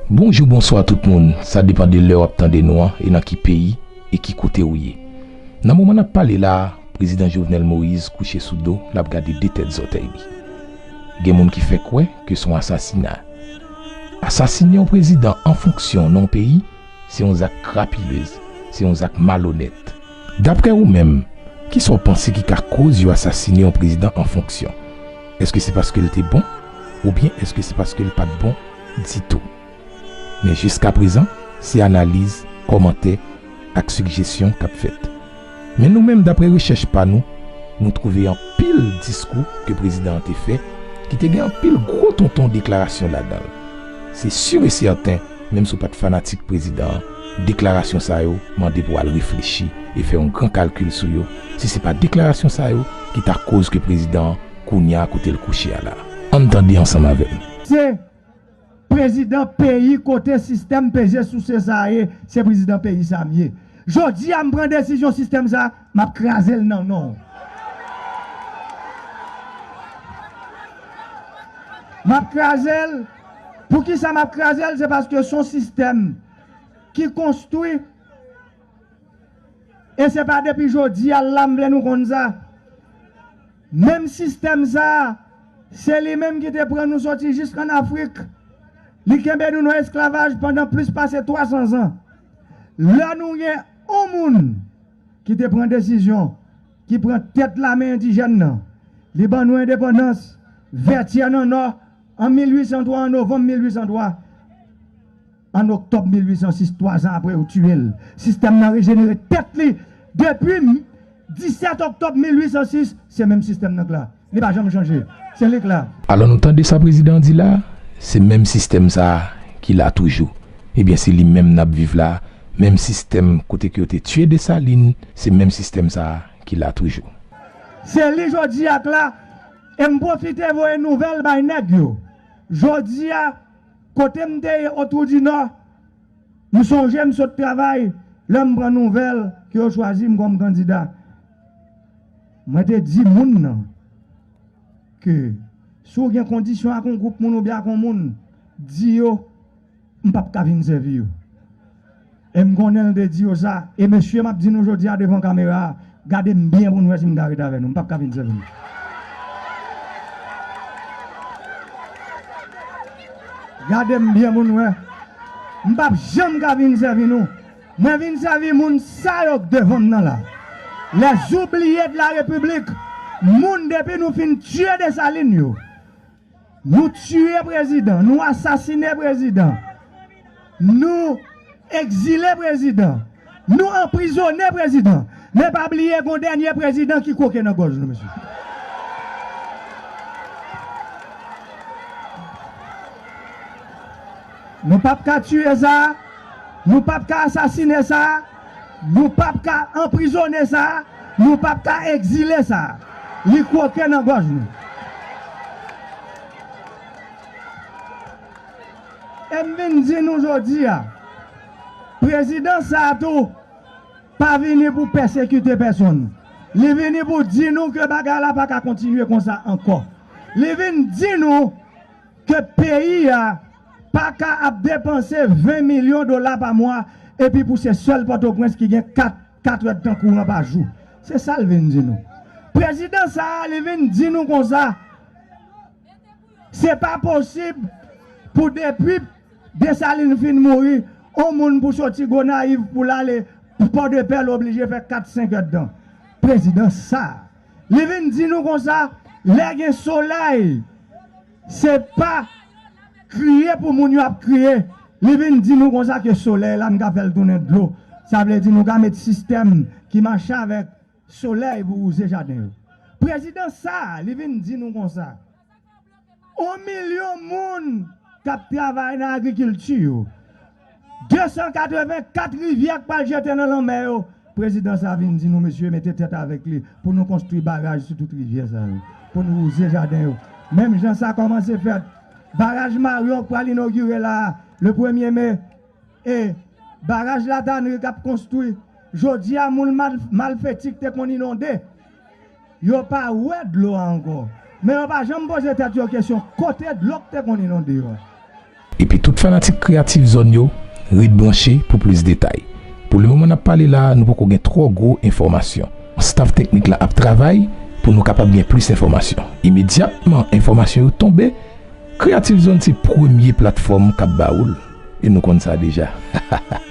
Bonjou bonswa tout moun sa depan de lè wap tande nou an e nan ki peyi e ki kote ou ye nan moman nap pale la prezidan Jovenel Moïse kouche sou do lap gade 2 tèt zòtèy li gen moun ki fè kwè ke son asasina asasine yon prezidan an fonksyon nan yon peyi se yon zak krapilez se yon zak malonèt daprè ou menm kisa ou panse ki ka koz yo asasine yon prezidan an fonksyon eske se paskel te bon oubyen eske se paskel pat bon. ditou. Men jiskaprezan, se analiz, kòmantè ak sigjesyon k ap fèt. Men nou menm, dapre rechèch pa nou, nou twouve anpil diskou ke prezidan an te fè ki te gen anpil gwo tonton deklarasyon ladan l. Se sur e sèten, menm si w pa t fanatik prezidan an, deklarasyon sa yo mande pou w al reflechi e fè yon gran kalkil sou yo, si se pa deklarasyon sa yo ki ta koz ke prezidan an, kounye a kote l kouche a la. Ann tande ansanm avè m. Se prezidan peyi kote sistèm peze souse sa a ye, se prezidan peyi sa a m ye. Jodi a m pran desizyon sistèm sa a, m ap kraze l nan non w. M ap kraze l, poukisa m ap kraze l, se paske s on sistèm ki konstwi e se pa depi jodi a l la m vle nou konn sa. Menm sistèm sa a, se li menm ki te pran nou soti jis ann Afrik. Li kenbe nou nan esklavaj pandan plis pase 300 zan. Lè nou gen yon moun ki te pran desizyon, ki pran tèt lame endijèn nan, li ban nou endepandans, Vètyè nan Nò, an 1803, an novanm 1803. An oktòb 1806, twa zan apre yo tiye l, sistèm nan rejenere tèt li. Depi 17 oktòb 1806, se menm sistèm nan k la. Li pa janm chanje. Se li k la. Alò nou tande sa prezidan an di la a? Se menm sistèm sa a ki la toujou. Ebyen se li menm n ap viv la a. Menm sistèm kote ke yo te tiye Desalin, se menm sistèm sa a ki la toujou. Se li jodi a k la. E m pwofite voye nouvèl bay nèg yo. Jodi a. Kote m te ye Otwou di Nò, m sonje m sot travay lè m pran nouvèl ke yo chwazi m kòm kandida. Mwen te di moun nan ke si w gen kondisyon ak yon gwoup moun oubyen ak yon moun, di yo m p ap ka vin sèvi yo. E m konnen l te di yo sa. E mesye m ap di nou jodi a devan kamera a, gade m byen pou n wè si m ka ret avè nou. M pap ka fin sèvi nou. Gade m byen pou n wè. M pap janm ka fin sèvi nou. Mwen vin sèvi moun sa yo k devan m nan la. Lè zoubliye de la repiblik, moun depi nou fin tiye Desalin yo. Nou tiye prezidan, nou asasine prezidan, nou ekzile prezidan, nou anprizone prezidan, men pa bliye gon dènye prezidan ki kwoke nan gòj nou mesye. Nou pap ka tiye sa, nou pap ka asasine sa. Nou pap ka anprizone sa, nou pap ka egzile sa. Li kwoke nan gòj nou. E m vin di nou jodi a, prezidans sa tou pa vini pou pèsekite pèsonn. Li vini pou di nou ke bagay la pa ka kontinye konsa ankò. Li vin di nou ke peyi a. pa ka ap depanse 20 milyon dola pa mwa epi pou se sèl Pòtoprens ki gen 4 katrèdtan kouran pa jou. Se sa l vin di nou. Prezidan sa a li vin di nou konsa, se pa posib pou depi Desalin fin mouri, on moun pou soti Gonayiv pou l ale Pòdepè l oblije fè 4 senkèdtan. Prezidan sa a li vin di nou konsa, lè gen solèy, Se pa kriye pou moun yo ap kriye. Li vin di nou konsa ke solèy la nou ka fè l tounen dlo. Sa vle di nou ka met sistèm ki mache avèk solèy pou wouze jaden yo. Prezidan sa a, li vin di nou konsa, On milyon moun k ap travay nan agrikilti yo. 284 rivyè k pral jete nan lanmè yo prezidan sa vin di nou mesye mete tèt avèk li pou nou konstwi baraj sou tout rivyè sa yo pou nou wouze jaden yo menm jan sa kòmanse fèt baraj maryon k pral inogire la a le premye me e baraj la tanri k ap konstwi jodi a moun malfeti k te konn inonde Yo pa wè dlo a ankò. Men yo pa janm poze tèt yo kesyon kote dlo k te konn inonde yo a. Epi tout fanatik kreyatif zòn yo, ret branche pou plis detay. Pou le moman n ap pale la a, nou poko gen twò gwo enfòmasyon. Staf teknik la ap travay pou nou kapab gen plis enfòmasyon. Imedyatman enfòmasyon yo tonbe, Kreyatif Zòn se premye platfòm k ap ba ou l. E nou konn sa deja. Hahahaha.